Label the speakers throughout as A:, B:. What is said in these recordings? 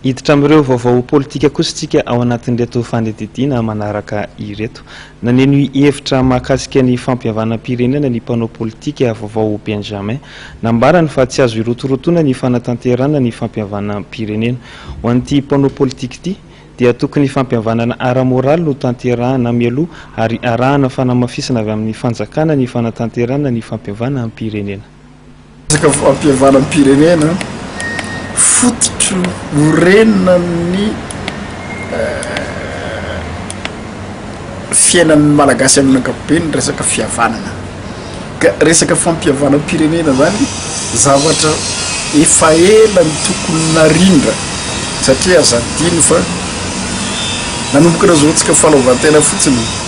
A: Hiditra amin'ireo vaovao politika kosa isika ao anatin'ireto fandidiana manaraka ireto. Naneno hevitra mahakasika ny fampihavanam-pirenena ny mpanao politika vaovao Benjamin. Nambarany fa tsy azo hirotorotoana ny fanatanterahana ny fampihavanam-pirenena. Ho an'ity mpanao politika ity dia tokony fampihavanana ara-moraly no tanterahana mialoha ary arahana fanamafisana avy amin'ny fanjakana ny fanatanterahana ny fampihavanam-pirenena. Resaka
B: fampihavanam-pirenena, fototry ny orenina ny fiainan'ny Malagasy amin'ny ankapobeny ny resaka fihavanana. Ka resaka fampihavanam-pirenena izany, zavatra efa ela no tokony narindra, satria aza adino fa nanomboka nazoantsika fahalaovan-tena fotsiny.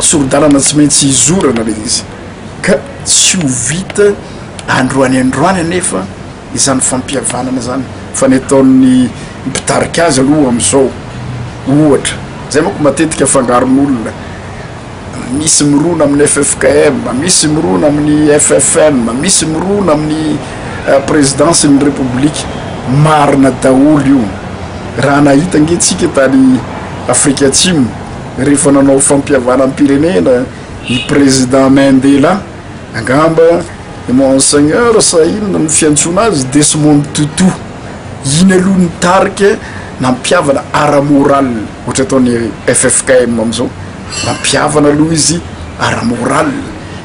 B: Sori-dalana tsy maintsy hizorana ilay izy ka tsy ho vita androany androany anefa izany fampihavanana izany fa ny ataon'ny mpitarika azy aloha amin'izao ohatra izay manko matetika fangaron'olona misy mirona amin'ny ffkm misy mirona amin'ny ffm misy mirona amin'ny eh, présidence ny république marina daholo io raha nahita nge tsika tany Afrika Atsimo, rehefa nanao fampihavanam-pirenena i President Mandela, angamba i Monseigneur sa inona no fiantsoana azy, Desmond Tutu. Iny aloha ny tarika nampihavana ara-morale, ohatra ataon'ny ffkm amin'izao, nampihavana aloha izy ara-morale,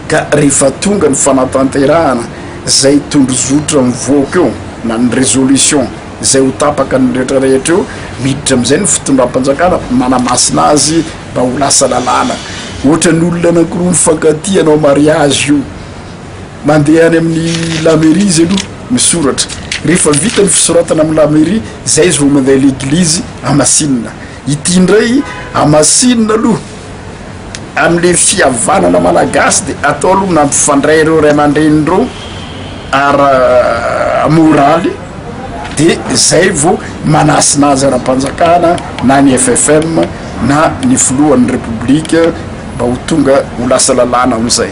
B: ka rehefa tonga ny fanatanterahana izay tondrozotra mivoaka eo na ny resolution, izay ho tapaka ny rehetra rehetra eo, miditra amin'izay ny fitondram-panjakana manamasina azy mba ho lasa lalàna. Ohatran'ny olona anankiroa mifankatia hanao mariazy io, mandeha any amin'ny lamairia izy aloha misoratra, rehefa vita ny fisoratana amin'ny lamairia, izay izy vao mandeha leglizy hamasinina. Ity indray hamasinina aloha amin'le fihavanana malagasy de atao aloha nampifandray ireo ray aman-dreny ireo ara moraly de zay vao manasina azy ara-panjakana na ny FFM na ny filohan'ny Repoblika mba ho tonga ho lasa lalàna amizay.